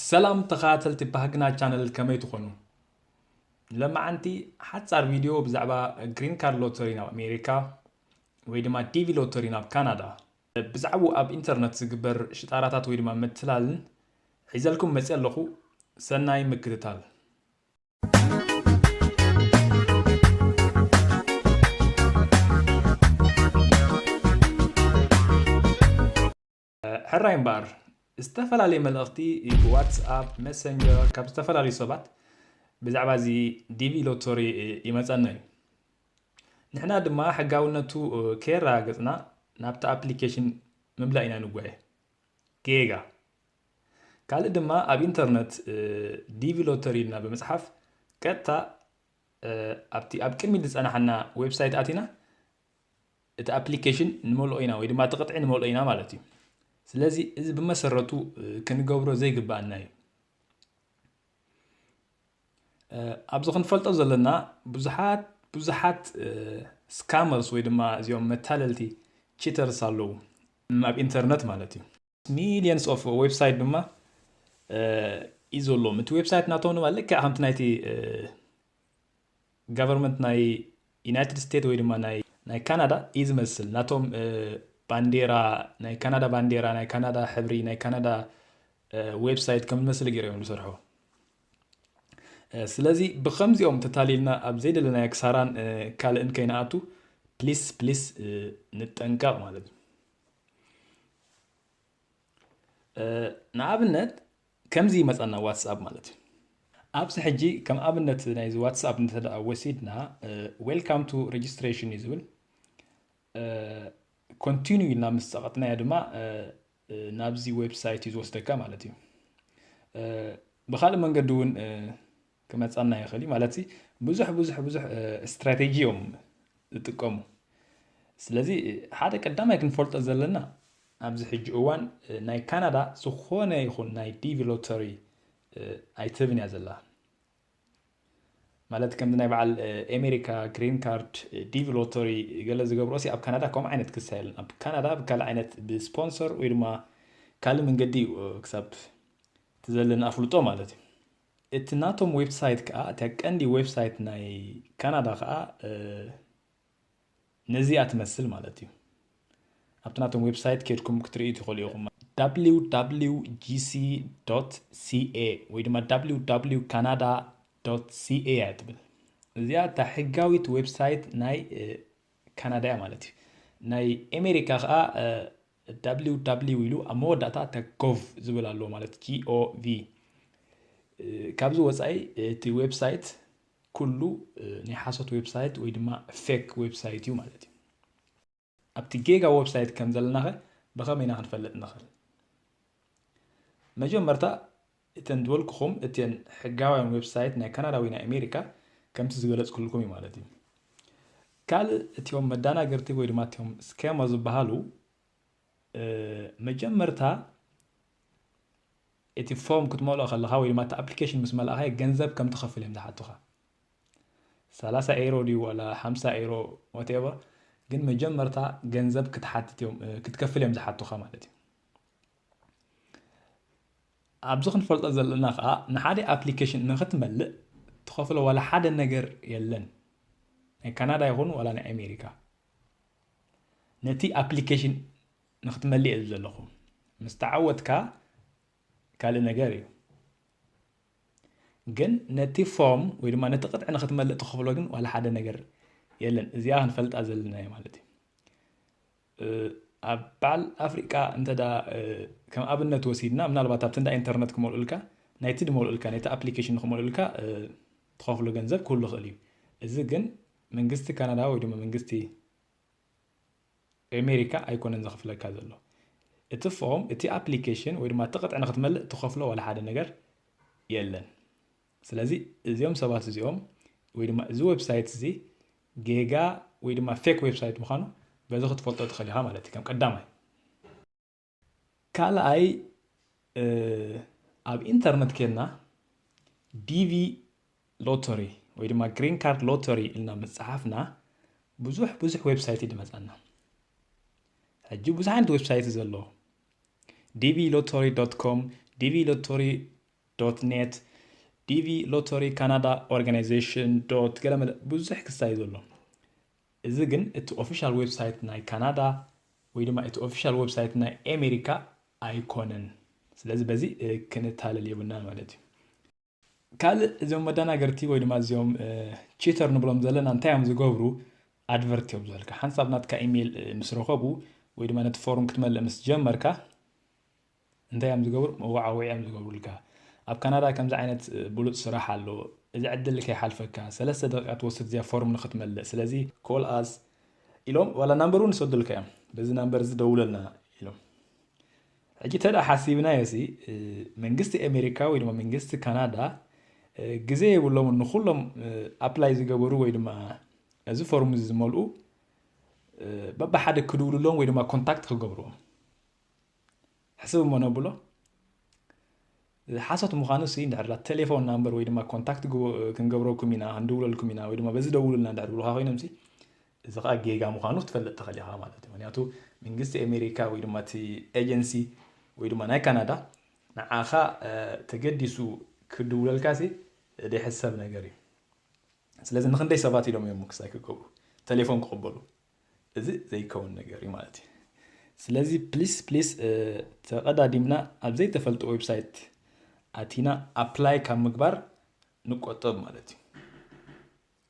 ሰላም ተኸታተልቲ ባህግና ቻነል ከመይ ትኾኑ ለማዓንቲ ሓፃር ቪድዮ ብዛዕባ ግሪን ካርድ ሎተሪ ናብ ኣሜሪካ ወይ ድማ ዲቪ ሎተሪ ናብ ካናዳ ብዛዕብኡ ኣብ ኢንተርነት ዝግበር ሽጣራታት ወይ ድማ ምትላልን ሒዘልኩም መፅየ ኣለኹ ሰናይ ምክትታል። ሕራይ እምበኣር ዝተፈላለየ መልእኽቲ ብዋትስኣፕ መሰንጀር ካብ ዝተፈላለዩ ሰባት ብዛዕባ እዚ ዲቪ ሎተሪ ይመፀና እዩ ንሕና ድማ ሕጋውነቱ ከየረጋገጽና ናብቲ ኣፕሊኬሽን ምምላእ ኢና ንጓየ። ጌጋ። ካልእ ድማ ኣብ ኢንተርነት ዲቪ ሎተሪ ኢልና ብምጽሓፍ ቀጥታ ኣብቲ ኣብ ቅድሚት ዝጸናሓና ዌብሳይት ኣቲና እቲ ኣፕሊኬሽን ንመልኦ ኢና ወይ ድማ እቲ ቅጥዒ ንመልኦ ኢና ማለት እዩ ስለዚ እዚ ብመሰረቱ ክንገብሮ ዘይግባኣና እዩ ኣብዚ ክንፈልጦ ዘለና ብዙሓት ብዙሓት ስካመርስ ወይ ድማ እዚኦም መታለልቲ ቺተርስ ኣለዉ ኣብ ኢንተርነት ማለት እዩ ሚሊየንስ ኦፍ ዌብሳይት ድማ እዩ ዘለዎም እቲ ዌብሳይት ናቶም ድማ ልክዕ ከምቲ ናይቲ ጋቨርመንት ናይ ዩናይትድ ስቴት ወይ ድማ ናይ ናይ ካናዳ እዩ ዝመስል ናቶም ባንዴራ ናይ ካናዳ ባንዴራ ናይ ካናዳ ሕብሪ ናይ ካናዳ ዌብሳይት ከም ዝመስል ገይሮ እዮም ዝሰርሑ ስለዚ ብከምዚኦም ተታሊልና ኣብ ዘይደለናዮ ክሳራን ካልእን ከይንኣቱ ፕሊስ ፕሊስ ንጠንቀቕ ማለት እዩ ንኣብነት ከምዚ ይመፀና ዋትስኣፕ ማለት እዩ ኣብዚ ሕጂ ከም ኣብነት ናይዚ ዋትስኣፕ እንተ ወሲድና ዌልካም ቱ ሬጅስትሬሽን እዩ ዝብል ኮንቲኒ ኢልና ምስ ፀቐጥናዮ ድማ ናብዚ ዌብሳይት እዩ ዝወስደካ ማለት እዩ ብካልእ መንገዲ እውን ክመጻና ይኽእል እዩ ማለት ብዙሕ ብዙሕ ብዙሕ ስትራቴጂ እዮም ዝጥቀሙ ስለዚ ሓደ ቀዳማይ ክንፈልጦ ዘለና ኣብዚ ሕጂ እዋን ናይ ካናዳ ዝኾነ ይኹን ናይ ዲቪ ሎተሪ ኣይትህብን እያ ዘላ ማለት ከምዚ ናይ በዓል ኣሜሪካ ግሪን ካርድ ዲቪ ሎተሪ ገለ ዝገብሮ ሲ ኣብ ካናዳ ከምኡ ዓይነት ክሳ የለን ኣብ ካናዳ ብካልእ ዓይነት ብስፖንሰር ወይ ድማ ካልእ መንገዲ እዩ ክሳብ ትዘለኒ ኣፍልጦ ማለት እዩ እቲ ናቶም ዌብሳይት ከኣ እታ ቀንዲ ዌብሳይት ናይ ካናዳ ከኣ ነዚኣ ትመስል ማለት እዩ ኣብቲ ናቶም ዌብሳይት ኬድኩም ክትርእዩ ትኽእሉ ኢኹም wwgc ca ወይ ድማ ww ካናዳ ca እያ ትብል እዚኣ እታ ሕጋዊት ዌብሳይት ናይ ካናዳ እያ ማለት እዩ ናይ ኣሜሪካ ከዓ ww ኢሉ ኣብ መወዳእታ ተኮቭ ዝብል ኣሎ ማለት gov ካብዚ ወፃኢ እቲ ዌብሳይት ኩሉ ናይ ሓሶት ዌብሳይት ወይ ድማ ፌክ ዌብሳይት እዩ ማለት እዩ ኣብቲ ጌጋ ዌብሳይት ከም ዘለናኸ ብኸመይ ኢና ክንፈልጥ ንኽእል መጀመርታ እተን ዝበልኩኹም እቲን ሕጋውያን ዌብሳይት ናይ ካናዳ ወይ ናይ ኣሜሪካ ከምቲ ዝገለፅኩልኩም እዩ ማለት እዩ። ካልእ እቲም መዳናገርቲ ወይ ድማ እቲም ስኬማ ዝበሃሉ መጀመርታ እቲ ፎርም ክትመልኦ ከለኻ ወይ ድማ እቲ ኣፕሊኬሽን ምስ መልእኻ ገንዘብ ከም ትኸፍል እዮም ዝሓቱኻ ሰላሳ ኤሮ ድዩ ዋላ ሓምሳ ኤሮ ወቴቨር ግን መጀመርታ ገንዘብ ክትሓትት እዮም ክትከፍል እዮም ዝሓቱኻ ማለት እዩ ኣብዚ ክንፈልጦ ዘለና ከኣ ንሓደ ኣፕሊኬሽን ንክትመልእ ትኸፍሎ ዋላ ሓደ ነገር የለን ናይ ካናዳ ይኹን ዋላ ናይ ኣሜሪካ ነቲ ኣፕሊኬሽን ንክትመልእ እየ ዘለኹ ምስ ተዓወትካ ካልእ ነገር እዩ ግን ነቲ ፎርም ወይ ድማ ነቲ ቅጥዒ ንክትመልእ ትኸፍሎ ግን ዋላ ሓደ ነገር የለን እዚኣ ክንፈልጣ ዘለና እዩ ማለት እዩ ኣብ በዓል ኣፍሪቃ እንተ ከም ኣብነት ወሲድና ምናልባት ኣብቲ እንዳ ኢንተርነት ክመልኡልካ ናይቲ ድመልኡልካ ናይቲ ኣፕሊኬሽን ንክመልኡልካ ትኸፍሎ ገንዘብ ክህሉ ይኽእል እዩ እዚ ግን መንግስቲ ካናዳ ወይ ድማ መንግስቲ ኣሜሪካ ኣይኮነን ዘኽፍለካ ዘሎ እቲ ፎም እቲ ኣፕሊኬሽን ወይ ድማ እቲ ቅጥዒ ንክትመልእ ትኸፍሎ ዋላ ሓደ ነገር የለን ስለዚ እዚኦም ሰባት እዚኦም ወይ ድማ እዚ ዌብሳይት እዚ ጌጋ ወይ ድማ ፌክ ዌብሳይት ምዃኑ በዚ ክትፈልጦ ትኽእል ኢኻ ማለት እዩ ከም ቀዳማይ ካልኣይ ኣብ ኢንተርነት ኬድና ዲቪ ሎተሪ ወይ ድማ ግሪን ካርድ ሎተሪ ኢልና ምፅሓፍና ብዙሕ ብዙሕ ዌብሳይት እዩ ድመፀና ሕጂ ብዙሕ ዓይነት ዌብሳይት ዘሎ ዲቪ ሎተሪ ዶት ኮም ዲቪ ሎተሪ ዶት ኔት ዲቪ ሎተሪ ካናዳ ኦርጋናይዜሽን ዶት ገለመለ ብዙሕ ክሳይ ዘሎ እዚ ግን እቲ ኦፊሻል ዌብሳይት ናይ ካናዳ ወይ ድማ እቲ ኦፊሻል ዌብሳይት ናይ ኣሜሪካ ኣይኮነን ስለዚ በዚ ክንታለል የብልናን ማለት እዩ ካልእ እዚኦም መደናገርቲ ወይ ድማ እዚኦም ቺተር ንብሎም ዘለና እንታይ እዮም ዝገብሩ ኣድቨርት እዮም ዝበልካ ሓንሳብ ናትካ ኢሜይል ምስ ረኸቡ ወይ ድማ ነቲ ፎርም ክትመልእ ምስ ጀመርካ እንታይ እዮም ዝገብሩ መወዓውዒ እዮም ዝገብሩልካ ኣብ ካናዳ ከምዚ ዓይነት ብሉፅ ስራሕ ኣሎ እዚ ዕድል ከይሓልፈካ ሰለስተ ደቂቃ ትወስድ እዚኣ ፎርም ንክትመልእ ስለዚ ኮል ኣስ ኢሎም ዋላ ናምበር እውን ይሰዱልካ እዮም በዚ ናምበር እዚ ደውለልና ኢሎም ሕጂ ተዳ ሓሲብናዮ ሲ መንግስቲ ኣሜሪካ ወይ ድማ መንግስቲ ካናዳ ግዜ የብሎም ንኩሎም ኣፕላይ ዝገበሩ ወይ ድማ እዚ ፎርም እዚ ዝመልኡ በብሓደ ክድውልሎም ወይ ድማ ኮንታክት ክገብርዎም ሕስብ እሞ ነብሎ። ሓሶት ምዃኑ ሲ እንድሕር ላ ቴሌፎን ናምበር ወይ ድማ ኮንታክት ክንገብረኩም ኢና ክንድውለልኩም ኢና ወይ ድማ በዚ ደውሉልና እንድሕር ብሉኻ ኮይኖም ሲ እዚ ከዓ ጌጋ ምዃኑ ክትፈልጥ ትኽእል ኢኻ ማለት እዩ ምክንያቱ መንግስቲ ኣሜሪካ ወይ ድማ እቲ ኤጀንሲ ወይ ድማ ናይ ካናዳ ንዓኻ ተገዲሱ ክድውለልካ ሲ ዘይሕሰብ ነገር እዩ ስለዚ ንክንደይ ሰባት ኢሎም እዮም ክሳይ ክገብሩ ቴሌፎን ክቕበሉ እዚ ዘይከውን ነገር እዩ ማለት እዩ ስለዚ ፕሊስ ፕሊስ ተቀዳዲምና ኣብ ዘይተፈልጡ ዌብሳይት ኣቲና ኣፕላይ ካብ ምግባር ንቆጠብ ማለት እዩ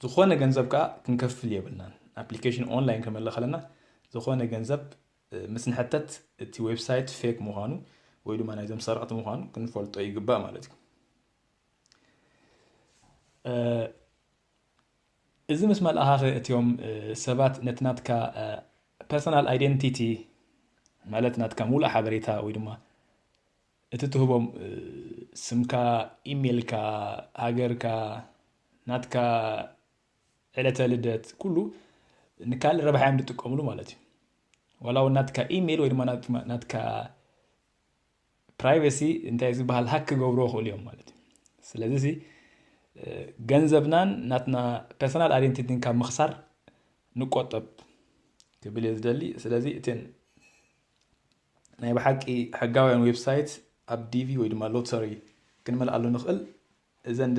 ዝኾነ ገንዘብ ከዓ ክንከፍል የብልናን ኣፕሊኬሽን ኦንላይን ክንመለ ከለና ዝኾነ ገንዘብ ምስ ንሕተት እቲ ዌብሳይት ፌክ ምዃኑ ወይ ድማ ናይዞም ሰረቕቲ ምዃኑ ክንፈልጦ ይግባእ ማለት እዩ እዚ ምስ መልኣኻኸ እትዮም ሰባት ነቲ ናትካ ፐርሰናል ኣይደንቲቲ ማለት ናትካ ሙሉእ ሓበሬታ ወይ ድማ እቲ ትህቦም ስምካ ኢሜልካ ሃገርካ ናትካ ዕለተ ልደት ኩሉ ንካልእ ረብሓ እዮም ዝጥቀምሉ ማለት እዩ ዋላ እውን ናትካ ኢሜል ወይ ድማ ናትካ ፕራይቬሲ እንታይ እዩ ዝበሃል ሃክ ክገብርዎ ክእሉ እዮም ማለት እዩ ስለዚ ገንዘብናን ናትና ፐርሰናል ኣይደንቲቲን ካብ ምኽሳር ንቆጠብ ክብል እየ ዝደሊ ስለዚ እትን ናይ ብሓቂ ሕጋውያን ዌብሳይት ኣብ ዲቪ ወይ ድማ ሎተሪ ክንመልኣሉ ንኽእል እዘን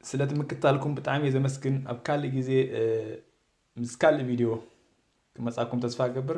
ስለቲ ምክትታልኩም ብጣዕሚ እየ ዘመስግን ኣብ ካልእ ግዜ ምስ ካልእ ቪድዮ ክመጻኩም ተስፋ እገብር